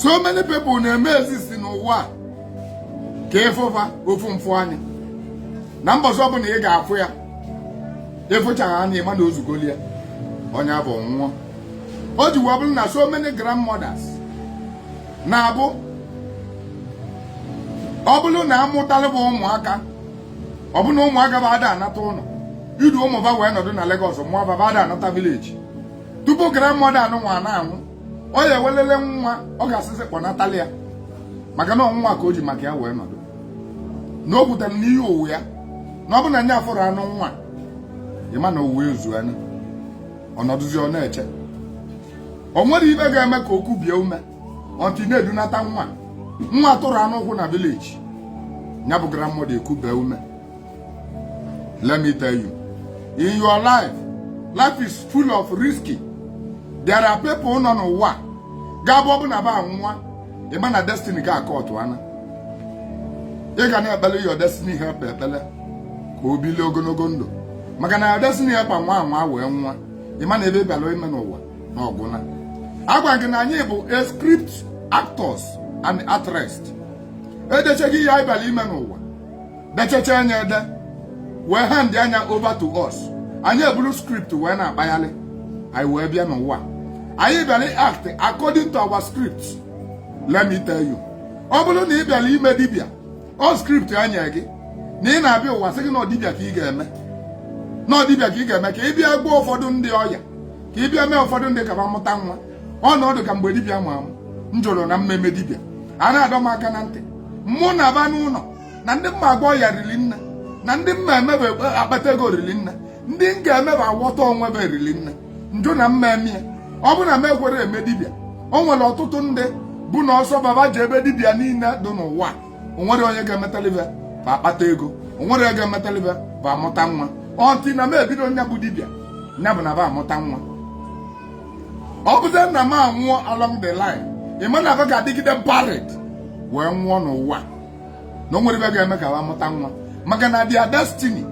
so many people na-eme exist n'ụwa ka ị fụ ba ofu mfụ anya na mbọsị ọbụla ị ga-afụ ya ị fụchaa ya anya ị ma na ozugoli ya onye abụ nwụọ o ji wee bụrụ na so many grandmothers na-abụ ọ bụrụ na amụtara ba ụmụaka ọ bụ na ụmụaka ba ada anata ụlọ idu ụmụ ba wee nọdụ na Lagos mụọ ba ba ada anata village tupu grandmother anụnwa na-anwụ ọ ya ewelele nwa ọ ga-asịzi kpọnatali ya maka na ọ nụnwa ka o ji maka ya wee nọdụ na o kwutere n'iyi ụwa ya na ọ bụ na nya afụrọ anụnwa ị ma na ụwa ezu anya ọ nọdụzịa na-eche o nwerọ ibe ga-eme ka o kubie ume until na edunata nwa nwa a tụrụ anụ ụkwụ na village nya bụ grandmother ekubie ume Let me tell you, in your life, life is full of risky. There are people nọ n'ụwa ga-abụ ọ bụ na ba anwụọ ị ma na destiny gị akpọtụ ana ị ga na-ekpele your destiny helper ekpele ka o bilie ogologo ndụ maka na your destiny helper nwa anwa wee nwụọ ị ma na ibe ị bịara ime n'ụwa na ọ gwụna agwa gị na anyị bụ a script actors and actress edechago ihe anyị bịara ime n'ụwa dechachaa nya ede wee hand nya over to us anyị eburu script wee na-akpagharị anyị wee bịa n'ụwa anyị bịara act according to our script let me tell you ọ bụrụ na ị bịara ime dibịa ọ script e nye gị na ị na-abịa ụwa sị gị na ọ dibịa ka ị ga-eme na ọ dibịa ka ị ga-eme ka ị bịa gbaa ụfọdụ ndị ọya ka ị bịa mee ụfọdụ ndị ka ba mụta nwa ọnọdụ ka mgbe dibịa mụwa m jụrụ na m ma eme dibịa a na-adọ m aka na ntị mụ na ba n'ụlọ na ndị m ma agba ọya riri nne na ndị m ma eme ba akpata ego riri nne ndị m ga-eme ba awọta onwe ba riri nne m jụ na m ma eme ya ọ bụ na m ekwerọ eme dibịa o nwere ọtụtụ ndị bụ na ọsọ ba ba jee be dibịa niile dị n'ụwa o nwerọ onye ga-emetali ba ba akpata ego o nwerọ onye ga-emetali ba ba amụta nwa until na m ebido nya bụ dibịa nya bụ na ba amụta nwa ọ bụzi na m anwụọ along the line ị ma na ba ga-adịgide barren wee nwụọ n'ụwa na o nwerọ ibe ga-eme ka ba mụta nwa maka na their destiny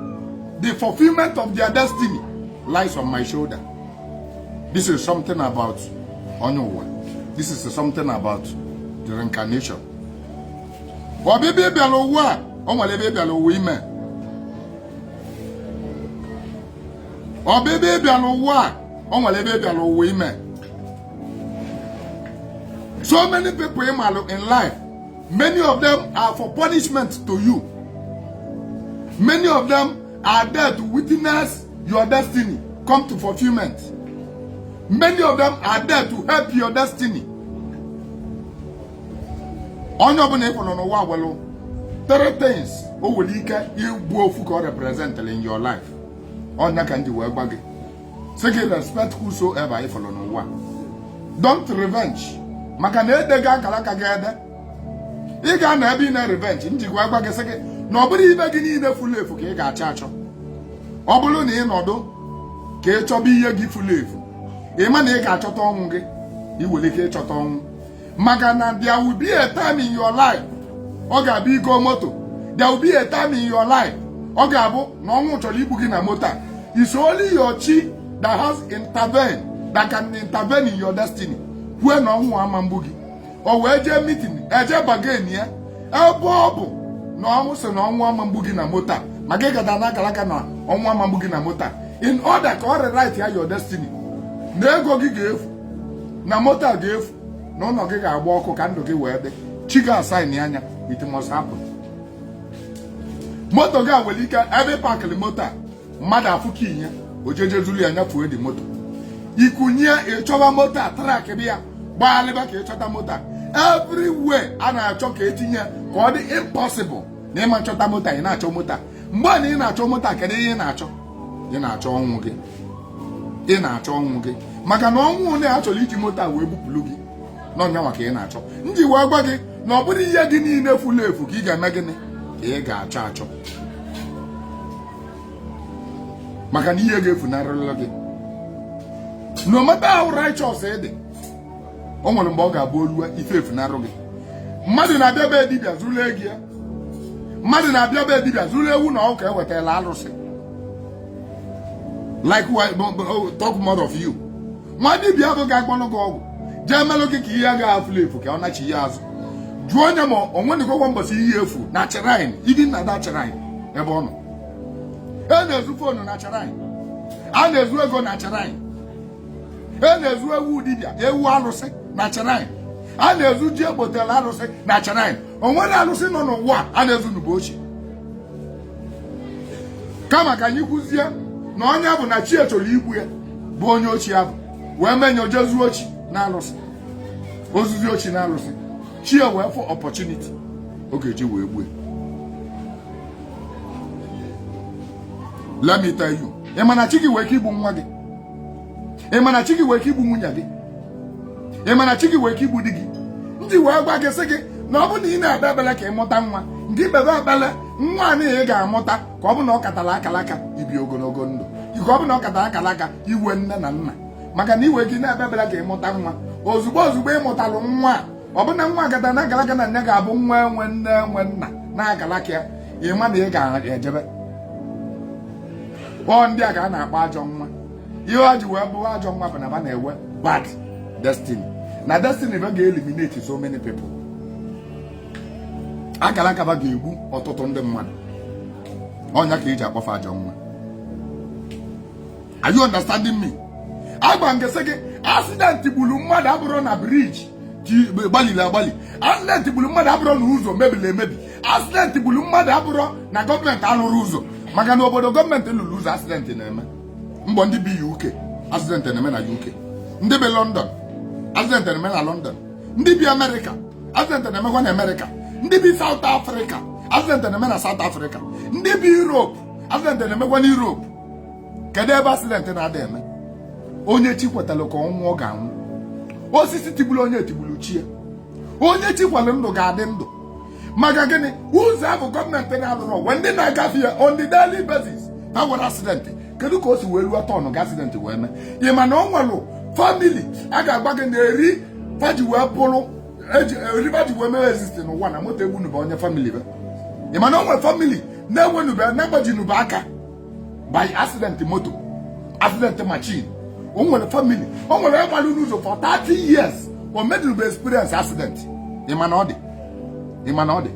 the fulfillment of their destiny lies on my shoulder this is something about ịnọ ụwa this is something about the reincarnation ọbịbịa ị bịalụ ụwa a o nwere ibe ị bịalụ ụwa ime ọbịbịa ị bịalụ ụwa a o nwere ibe ị bịalụ ụwa ime so many people ị malụ in life many of them are for punishment to you many of them are there to witness your destiny come to fulfillment many of them are there to help your destiny onye ọbụla ị fụrụ n'ụwa nwelụ three things o nwere ike ịbụ ofu ka ọ representịrị in your life ọ nya ka m ji wee gwa gị sị gị respect whosoever ị fụrụ n'ụwa don't revenge maka na e dego akara aka gị ede ị ga-anọ ebe ị na revenge m ji wee agwa gị sị gị na ọ bụrọ ife gị niile furu efu ka ị ga-achọ achọ ọ bụrụ na ị nọdụ ka ị chọba ihe gị furu efu ị ma na ị ga-achọta ọnwụ gị i nwere ike ịchọta ọnwụ maka na there will be a time in your life ọ ga-abụ i goo moto there will be a time in your life ọ ga-abụ na ọnwụ chọrọ igbu gị na moto a it's only your chi that has intervened that can intervene in your destiny kwue na ọnwụ ama mgbu gị o wee jee meeting eje bargain ya ebe ọ bụ na ọnwụ sị na ọnwụ ama mgbu gị na moto a ma gị gada na akara aka na ọnwụ ama mgbu gị na moto a in order ka ọ rewrite ya your destiny na ego gị ga-efu na moto a ga-efu na ụlọ gị ga-agba ọkụ ka ndụ gị wee dị chi gị asignịa nya it must happen moto gị a nwere ike ebe parkịrị moto a mmadụ afụ key nya o jee zuru ya nyafụọ dị moto i kunie ịchọba moto a trackịba ya gbagharịba ka ị chọta moto a everywhere a na-achọ ka etinye ka ọ dị impossible na ị ma achọta moto a ị na-achọ moto a mgbe a na ị na-achọ moto a kedu ihe ị na-achọ ị na-achọ ọnwụ gị ị na-achọ ọnwụ gị maka na ọnwụ na a chọrọ iji moto a wee bupụrụ gị na ọ nya nwa ka ị na-achọ m ji wee gwa gị na ọ bụrọ ihe gị niile furu efu ka ị ga-eme gịnị ka ị ga-achọ achọ maka na ihe ga-efunarịrị gị no matter how righteous ị dị o nwere mgbe ọ ga-abụ o luwe ife efunarụ gị mmadụ na-abịa be dibịa zuru ego ya mmadụ na-abịa be dibịa zuru ewu na ọkụkọ e wetalụ alụsị likewise talk more of you nwa dibịa bụ ga-agbalụ gị ọgwụ jee melụ gị ka ihe gị a fulu efu ka ọ nachie azụ jụọ nya ma o nwenụgokwa mbọsị ihe efu na shrine even na the shrine ebe ọ nọ a na-ezu fonu na shrine a na-ezu ego na shrine a na-ezu ewu dibịa ewu alụsị na shrine a na-ezu ji e gotelu alụsị na shrine o nwere alụsị nọ n'ụwa a na-ezu na be ya oshi kama ka anyị kwuzie na ọ nya bụ na chi e chọrọ igbu ya bụ onye oshi ahụ wee mee nya o jee zuo oshi na alụsị o zuzie oshi na alụsị chi ya wee fụ opportunity ọ ga-eji wee gbue let me tell you ị ma na chi gị nwere ike igbu nwa gị ị ma na chi gị wee ike igbu nwunye gị ị ma na chi gị wee ike igbu di gị m ji wee gwa gị sị gị na ọ bụ na ị na-ekpe ekpere ka ị mụta nwa ngị kpebe ekpere nwa a ị ga-amụta ka ọ bụ na ọ katara akara aka ibi ogologo ndụ ka ọ bụ na ọ katara akara aka iwe nne na nna maka na ị wee ike na-ekpe ekpere ka ị mụta nwa ozugbo ozugbo ị mụtalụ nwa ọ bụ na nwa akata na akara aka na nya ga-abụ nwa enwe nne enwe nna na akara aka ya ị ma na ị ga-ejebe ọ ndị a ka a na-akpọ ajọ nwa ihe ọ ji wee bụrụ ajọ nwa bụ na ba na-ewe bad destiny na destiny ba ga-eliminate so many people akara aka ba ga-egbu ọtụtụ ndị mmadụ ọ nya ka e ji akpọ fa ajọ nwa are you understanding me agwa m gị sị gị accident gburu mmadụ abụrọ na bridge gbaliri agbali accident gburu mmadụ abụrọ na ụzọ mebiri emebi accident gburu mmadụ abụrọ na gọọmenti alụrọ ụzọ maka na obodo gọọmenti lụrụ ụzọ accident na-eme mgbọ ndị bi UK accident na-eme na UK ndị bi London accident na-eme na London ndị bi America accident na-emekwa na America ndị bi South Africa accident na-eme na South Africa ndị bi Europe accident na-emekwa na Europe kedu ebe accident na-ada eme onye chi kwetara ka ọ nwụọ ọ ga-anwụ osisi tigburu onye tigburu chi ya onye chi kwere ndụ ga-adị ndụ maka gịnị ụzọ ahụ gọọmenti na-alụrọ o nwere ndị na-agafe ya on the daily basis fa enwerọ accident kedu ka o si wee ruo turn gị accident wee mee ị ma na ọ nwelụ family a ga-agwa gị na eri fa ji wee bụrụ eri fa ji wee mee exist n'ụwa na moto egbunube onye family be ị ma na o nwere family na-enwenube na-agbajinube aka by accident moto accident machine o nwere family o nwere onye gbalụ n'ụzọ for 30 years o medube experience accident ị ma na ọ dị ị ma na ọ dị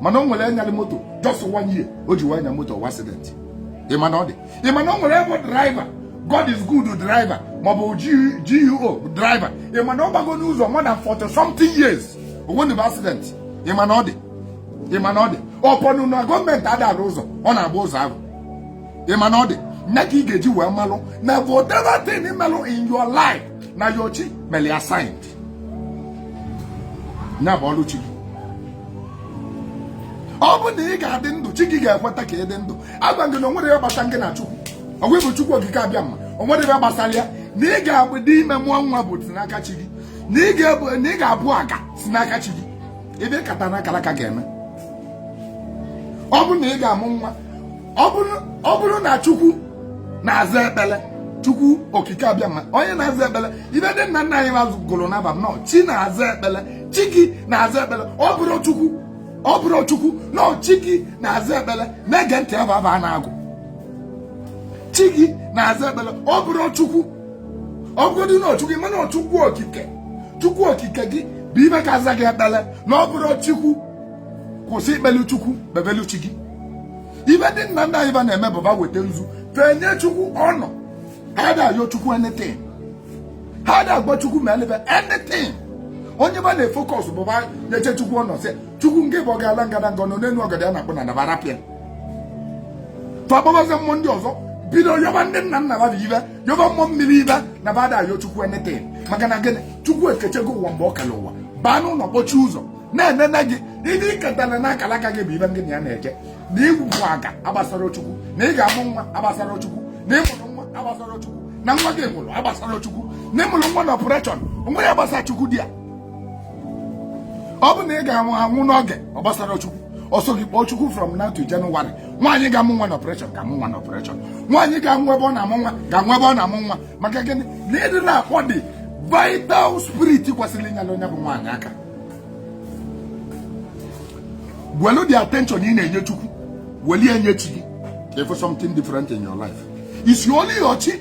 mana o nwere onye nyalụ moto just one year o ji wee nya moto wee accident ị ma na ọ dị ị ma na o nwere onye bụ driver God is good driver maọbụ GUO driver ị ma na ọ gbago n'ụzọ more than 40 something years o nwenube accident ị ma na ọ dị ị ma na ọ dị ọ bụnụ na gọọmenti ada arụ ụzọ ọ na-agba ụzọ ahụ ị ma na ọ dị nya ka ị ga-eji wee malụ na whatever thing melụ in your life na your chi mere ya signed ya bụ ọrụ chi gị ọ bụ na ị ga-adị ndụ chi gị ga-ekweta ka ị dị ndụ agwa gị na o nwerọ ihe gbasa gị na Chukwu ọgwụ ịbụ Chukwu okike abịama o nwerọ ihe gbasara ya na ị ga-abụ dị ime mụọ nwa bụ si n'aka chi gị na ị ga-abụ aga si n'aka chi gị ibe kata na akalaka ga-eme ọ bụrụ na ị ga-amụ nwa ọ bụrụ na chukwu na-aza ekpele chukwu okike abịama onye na-aza ekpele ibe ndị nna nna anyị ba gụlụ n'aba na ọ chi na-aza ekpele chi gị na-aza ekpele ọ bụrọ chukwu ọ bụrọ chukwu na ọ chi gị na-aza ekpele na-ege ntị aba ba na-agụ chi gị na-aza ekpele ọ bụrọ chukwu ọ bụgodị na ọ chukwu mana ọ chukwu okike chukwu okike gị bụ ibe ka aza gị ekpele na ọ bụrọ chukwu kwụsị ikpelu chukwu kpebelu chi gị ibe ndị nna nna anyị ba na-eme bụ ba weta nzu fenye chukwu ọnọ ha da-ayọ chukwu anything ha da-agwa chukwu meelụ ba anything onye ba na-efocus bụ ba nyechaa chukwu ọnọ sị chukwu nke bụ ọgalanya ngadanga nọ n'elu ọgọdọ ya na-akpụ n'ana ba rapụ ya tọgbabazi mmụọ ndị ọzọ bido yọba ndị nna nna ba ibe yọba mmụọ mmiri ibe na ba da-ayọ chukwu anything maka na gịnị chukwu ekechego ụwa mgbe ọ kere ụwa baa n'ụlọ kpọchie ụzọ na-enene gị ndị i ketara na akara aka gị bụ ibe gị na ya na-eje na ị bụ aga agbasarọ chukwu na ị ga-amụ nwa agbasarọ chukwu na ị mụrụ nwa agbasarọ chukwu na nwa gị nwụrụ agbasarọ chukwu na ị mụrụ nwa na operation nwa ya gbasara chukwu dị ya ọ bụ na ị ga-anwụ n'oge ọ gbasarọ Chukwu ọ sọ gị kpọọ Chukwu from now to January nwaanyị ga-amụ nwa na operation ga-amụ nwa na operation nwaanyị ga-anwụ ebe ọ na-amụ nwa ga-anwụ ebe ọ na-amụ nwa maka gịnị na ị da-akpọ the vital spirit kwesịrị inyelu onye bụ nwaanyị aka welu the attention ị na-enye Chukwu welu ya nye chi gị ka ị fụ something different in your life it's only your chi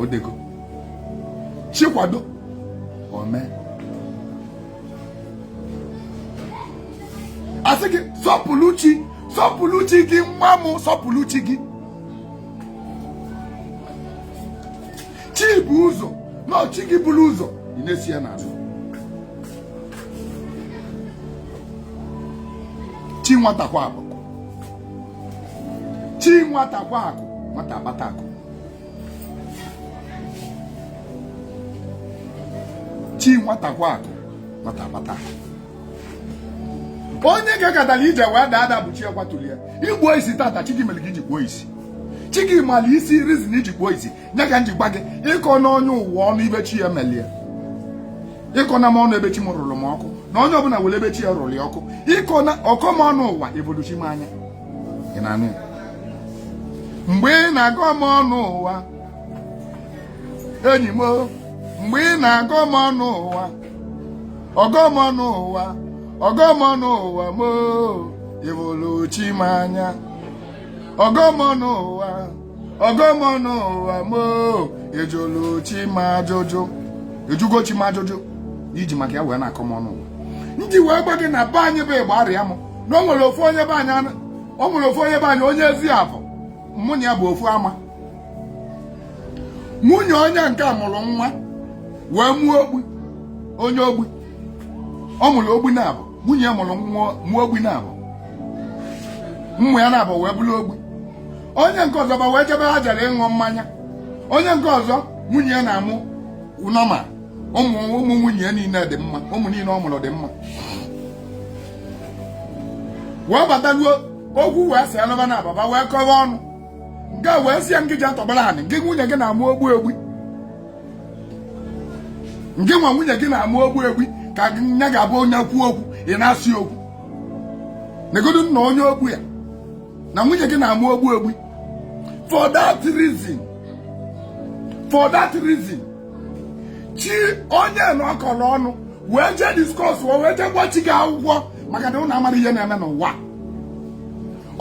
odego chi kwado o mee a sị gị sọpụlụ chi sọpụlụ chi gị nwa m sọpụlụ chi gị chi bu ụzọ na ọ chi gị bulu ụzọ ị na-eso ya n'azụ chi nwata kwa akụ chi nwata kwa akụ nwata akpata akụ chi nwata kwa akụ nwata akpata onye gakatalụ ije wee daa ada bụ chi ya kwatulu ya i kpuo isi tata chi gị mere gị ji kpuo isi chi gị mara isi reason i ji kpuo isi nya ka m ji gwa gị ịkọna onye ụwa ọnụ ibe chi ya melu ya ịkọna m ọnụ ebe chi m rụrụ m ọkụ na onye ọbụla nwere ebe chi ya rụrụ ya ọkụ ịkọ na ọkọ m ọnụ ụwa ị fụlụ chi m anya mgbe ị na-akọ m ọnụ ụwa enyi m mgbe ị na-akọ m ọnụ ụwa ọkọ m ọnụ ụwa ọkọ m ọnụ ụwa m ị fụlụ chi m anya ọkọ m ọnụ ụwa ọkọ m ọnụ ụwa mo ị jụlụ chi m ajụjụ ị jụgo chi m ajụjụ i ji maka ya wee na-akọ m ọnụ ụwa m ji wee gwa gị na be anyị bụ igbariam na o nwere ofu onye be anyị anụ- o nwere ofu onye be anyị onye ezi afọ mụ na ya bụ ofu ama nwunye onye nke a mụrụ nwa wee mụọ ogbi onye ogbi ọ mụrụ ogbi naabọ nwunye mụrụ nwa ogbi naabọ ụmụ ya naabọ wee bụrụ ogbi onye nke ọzọ ba wee jebe ha jere ịṅụ mmanya onye nke ọzọ nwunye ya na-amụ nwa ọma ụmụ ụmụ nwunye ya niile dị mma ụmụ niile ọ mụrụ dị mma wee bataruo okwu wee si alụba na ababa wee kọwa ọnụ nke wee sị ya ngị ja tọgbara anị nke nwunye gị na-amụ ogbi ogbi ngị nwa nwunye gị na-amụ ogbi ogbi ka nya ga-abụ onye kwuo okwu ị na-asị okwu negodu nna onye ogbu ya na nwunye gị na-amụ ogbi ogbi for that reason for that reason chi onye na ọ kọrọ ọnụ wee jee discuss wee jee gbaa chi gị akwụkwọ maka na ụnụ amara ihe na-eme n'ụwa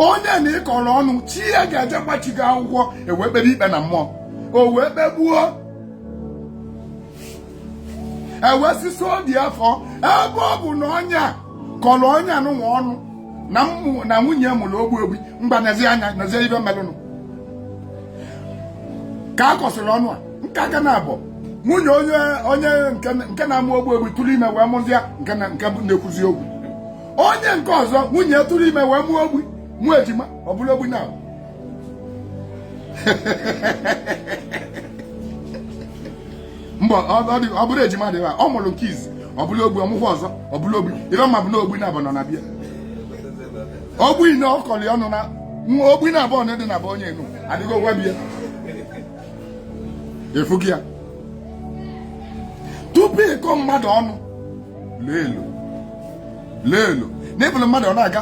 onye na ị kọrọ ọnụ chi ya ga-eje gbaa chi gị akwụkwọ e wee kpebe ikpe na mmụọ o wee kpegbuo e wee sisi obi afọ ebe ọ bụ na onye a kọrọ onye anụnwa ọnụ na nwunye mụrụ ogbi ogbi ngwa nezi anya nezie ife melụnụ ka a kọsịrị ọnụ a nke aka na abụọ nwunye onye onye nke na-amụ ogbi ogbi tụrụ ime wee mụzịa nke na-ekwuzi okwu onye nke ọzọ nwunye tụrụ ime wee mụọ ogbi mụọ ejima ọ bụrụ ogbi naabọ ọ bụrọ ejima dị ọ mụrụ nke izi ọ bụrụ ogbi ọ mụkwuo ọzọ ọ bụrụ ogbi ife m ma bụ na ogbi naabọ nọ na be ya ogbi na ọ kọrọ ọnụ na nwa ogbi naabọ na dị na be onye anụ adịgo na be ya ị fụgo ya tupu ị kọọ mmadụ ọnụ leelu leelu na ị fụrụ mmadụ ọ na-aga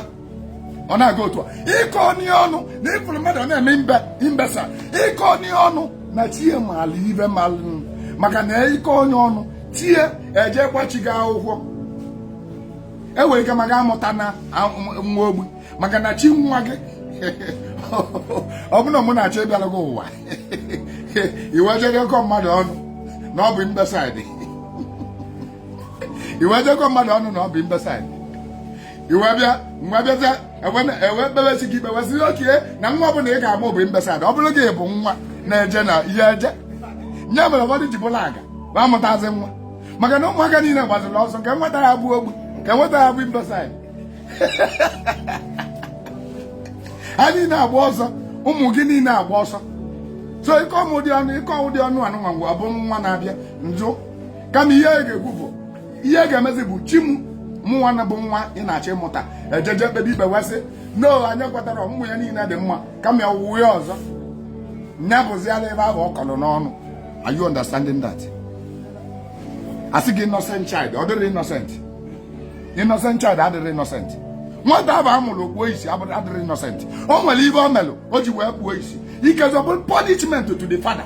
ọ na-aga otu a akọna ya ọnụ na ị fụrụ mmadụ ọ na-eme mbe imbecile akọna ya ọnụ na chi ya maala ife melụ maka na ị kọọ onye ọnụ chi ya eje gbaa chi gị akwụkwọ e nwere ike maka amụta na am- nwa ogbi maka na chi nwa gị ọ bụrụ na mụ na-achọ ịbịara gị ụwa i wee jee kọọ mmadụ ọnụ na ọ bụ imbecile i wee je kọọ mmadụ ọnụ na ọ bụ imbecile i wee bịa n'ụwa bịazia e wee kpebesi gị ikpe wee sị okay na nwa ọ bụla ị ga-amụ bụ imbecile ọ bụrụ gị bụ nwa na-eje na ihe eje nya mere ụfọdụ ji bụrụ aga ma amụtazi nwa maka na ụmụaka niile gbaziri ọsọ ka e nweta ya bụ ogbi ka e nweta ya bụ imbecile ha niile agba ọsọ ụmụ gị niile agba ọsọ so ị kọọ m ụdị ọnụ ị kọọ ụdị ọnụ anụnwa ngwa ọ bụ nwa na-abịa njụ kama ihe anyị ga-ekwu bụ ihe a ga-emezi bụ chi m mụnwa na bụ nwa ị na-achọ ịmụta ejeje kpebie ikpe wee sị no anyị kwetara ọmụmụ ya niile dị mma kama ọ bụ ụwa ya ọzọ nya bụziala ebe ahụ ọ kọrọ n'ọnụ are you understanding that a sị gị innocent child adịrọ innocent innocent child adịrọ innocent nwata ahụ a mụrụ o kpuo isi abụrọ adịrọ innocent o nwere ife o melụ o ji wee kpuo isi ikezi ọ bụrụ punishment to the father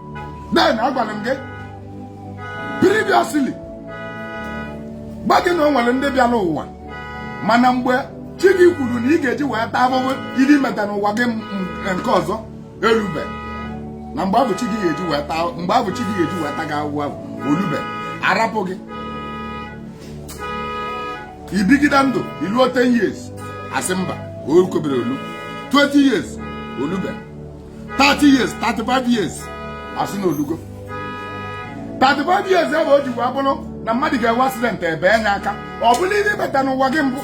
then agwara m gị previously gwa gị na o nwere ndị bịara ụwa mana mgbe chi gị kwuru na ị ga-eji wee taa ahụhụ ihe i meta n'ụwa gị nke ọzọ erube na mgbe ahụ chi gị ga-eji wee taa mgbe ahụ chi gị ga-eji wee taa gị ahụhụ ahụ o lube a rapụ gị i bigide ndụ i luo 10 years a sị mba o kobere o luo 20 years o lube 30 years 35 years a sị na o lugo 35 years ebe o ji wee bụrụ na mmadụ ga-enwe accident ebe enye aka ọ bụrụ ihe i meta n'ụwa gị mbụ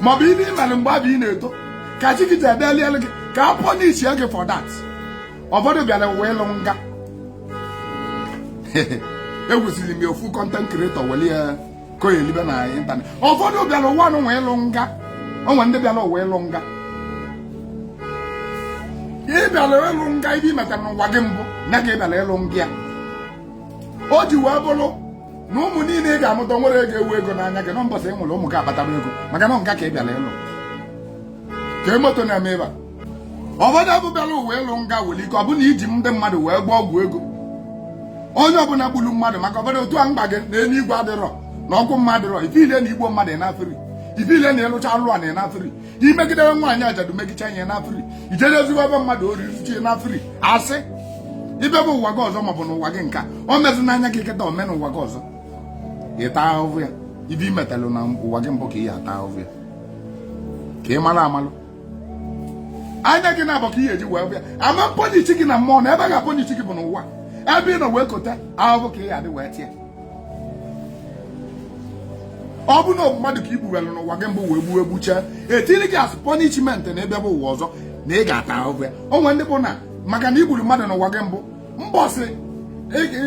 maọbụ ihe ị mere mgbe ahụ ị na-eto ka chi gị ji edelielụ gị ka a punish gị for that ụfọdụ bịara ụwa ịlụ nga ekwusiri m ya ofu content creator weli ya ka onye elibe na ịntanetị ụfọdụ bịara ụwa nụ nwe ịlụ nga o nwere ndị bịara ụwa ịlụ nga ị bịara ịlụ nga ife i metara n'ụwa gị mbụ ka ị bịara ịlụ nga ya o ji wee bụrụ na ụmụ niile ị ga-amụta nwere ego enwe ego n'anya gị na mbọsị ị nwụrụ ụmụ gị akpatara ego maka na nga ka ị bịara ịlụ ka moto na-eme ebe a ụfọdụ bụ bịara ụwa ịlụ nga nwere ike ọ bụ na i ji ndị mmadụ wee gwọọ ọgwụ ego onye ọbụla gburu mmadụ maka ụfọdụ otu a m gwa gị na elu igwe adịrọ na ọkụ mmụọ adịrọ ife ile na i gbuo mmadụ ịnafiri ife ile na ị lụcha alụ a na ịnafiri i megidere nwaanyị ajadu megicha ihe ịnafiri ijere ezigbo ebe mmadụ oriri chi ịnafiri asị ibe bụ ụwa gị ọzọ maọbụ n'ụwa gị nke a o mezi n'anya gị kịta o mee n'ụwa gị ọzọ ị taa ahụhụ ya ife i metalụ na ụwa gị mbụ ka ị ya ata ahụhụ ya ka ị mara amalụ anya gị naabọ ka ị ga-eji wee bịa ama punish gị na mmụọ na ebe a ga-apunish gị bụ n'ụwa ebe ị nọ wee kota ahụhụ ka ị ga-adị wee taa ya ọ bụ na mmadụ ka i gbuwere n'ụwa gị mbụ wee gbuo egbuchee e tiiri gị as punishment na ebe bụ ụwa ọzọ na ị ga-ata ahụhụ ya o nwere ndị bụ na maka na i gburu mmadụ n'ụwa gị mbụ mbọsị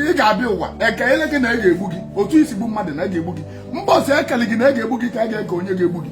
ị ga-abịa ụwa e keele gị na a ga-egbu gị otu i si gbu mmadụ na a ga-egbu gị mbọsị e kele gị na a ga-egbu gị ka a ga-eke onye ga-egbu gị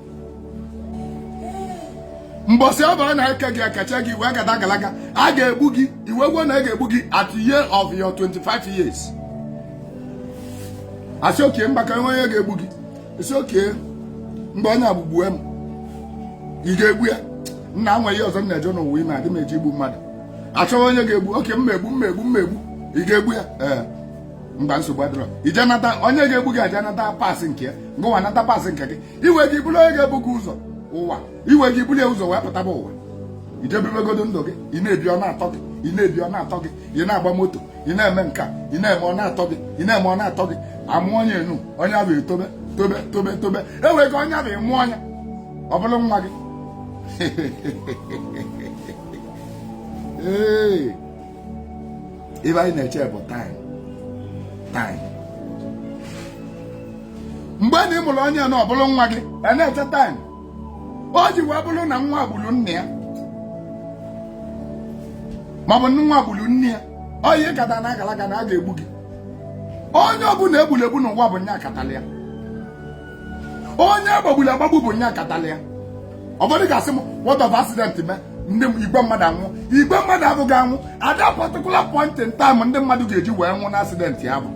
mbọsị ọ bụla na-eke gị ekecha gị wee gada agalaga a ga-egbu gị i wee kwuo na a ga-egbu gị at year of your 25 years a sị okay mgbaka enwe onye ga-egbu gị ị sị okay mgbe onye agbụgbue m ị ga-egbu ya nna nwe ihe ọzọ m na-eje n'ụwa ime adị m eje igbu mmadụ achọghị onye ga-egbu okay m egbu m egbu m egbu ị ga-egbu ya ee mba nsogbu adịrọ i je nata onye ga-egbu gị eje nata pass nke ya ngịwa nata pass nke gị i wee ga buru onye ga-egbu gị ụzọ ụwa i wee ga buru ya ụzọ wee pụtaba ụwa i je bibegodo ndụ gị ị na-ebi ọ na-atọ gị ị na-ebi ọ na-atọ gị ị na-agba moto ị na-eme nka ị na-eme ọ na-atọ gị ị na-eme ọ na-atọ gị a mụọ onye enu onye afụ etobe tobe tobe tobe e nwere ike onye afụ ị mụọ nya ọ bụrụ nwa gị ee ife anyị na-eche bụ time time mgbe na ị mụrụ onye na ọ bụrụ nwa gị a na-eche time o ji wee bụrụ na nwa gburu nna ya maọbụ nwa gburu nne ya ọ ya ị kata na agalaga na a ga-egbu gị onye ọbụla e gburu egbu n'ụwa bụ nya katala ya onye a gbagburu agbagbu bụ nya katala ya ọ bụrụ ị ga-asị m what of accident mee ndị igwe mmadụ anwụ igwe mmadụ afụ ga-anwụ at that particular point in time ndị mmadụ ga-eji wee nwụ na accident ya bụ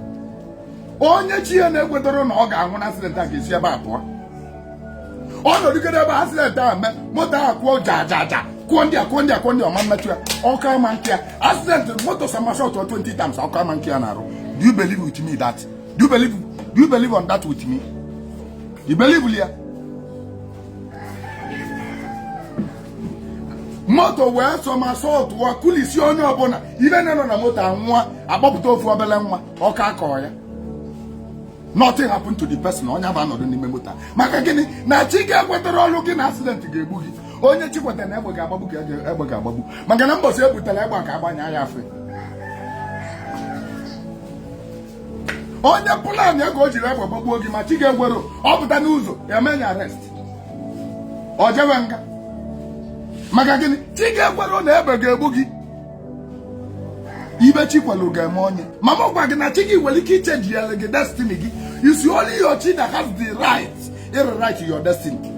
onye chi ya na-ekwetarọ na ọ ga-anwụ na accident a ga-esi ebe a pụọ ọ nọdụgide ebe accident a mee moto ahụ kụọ ja ja ja kụọ ndị a kụọ ndị a kụọ ndị ọ ma emetụ ya ọkọ ama akọ ya accident moto somersault 20 times ọkọ ama akọ ya n'arụ do you believe with me that Do you believe, do you believe on that with me? You believe, ya? moto wee somersault wa kulisi onye ọbụla ife niine nọ na moto anwụọ a kpọpụta ofu obele nwa ọkọ akọ ya nothing happen to the person onye afụ anọdụ n'ime moto maka gịnị na chi gị ekwetarọrụ gị na accident ga-egbu gị onye chi kwetara na egbe ga-agbagbu ka egbe ga-agbagbu maka na mbọsị e butela egbe ka a gbanye ya afe onye plan ya ka o jiri egbe gbagbuo gị ma chi gị ekwero ọ pụta n'ụzọ e mee ya arrest o jewe nga maka gịnị chi gị ekwero na egbe ga-egbu gị ife chi kwelu ga-eme onye ma m gwa gị na chi gị nwere ike ichenjiri gị destiny gị it's only your chi that has the right to rewrite your destiny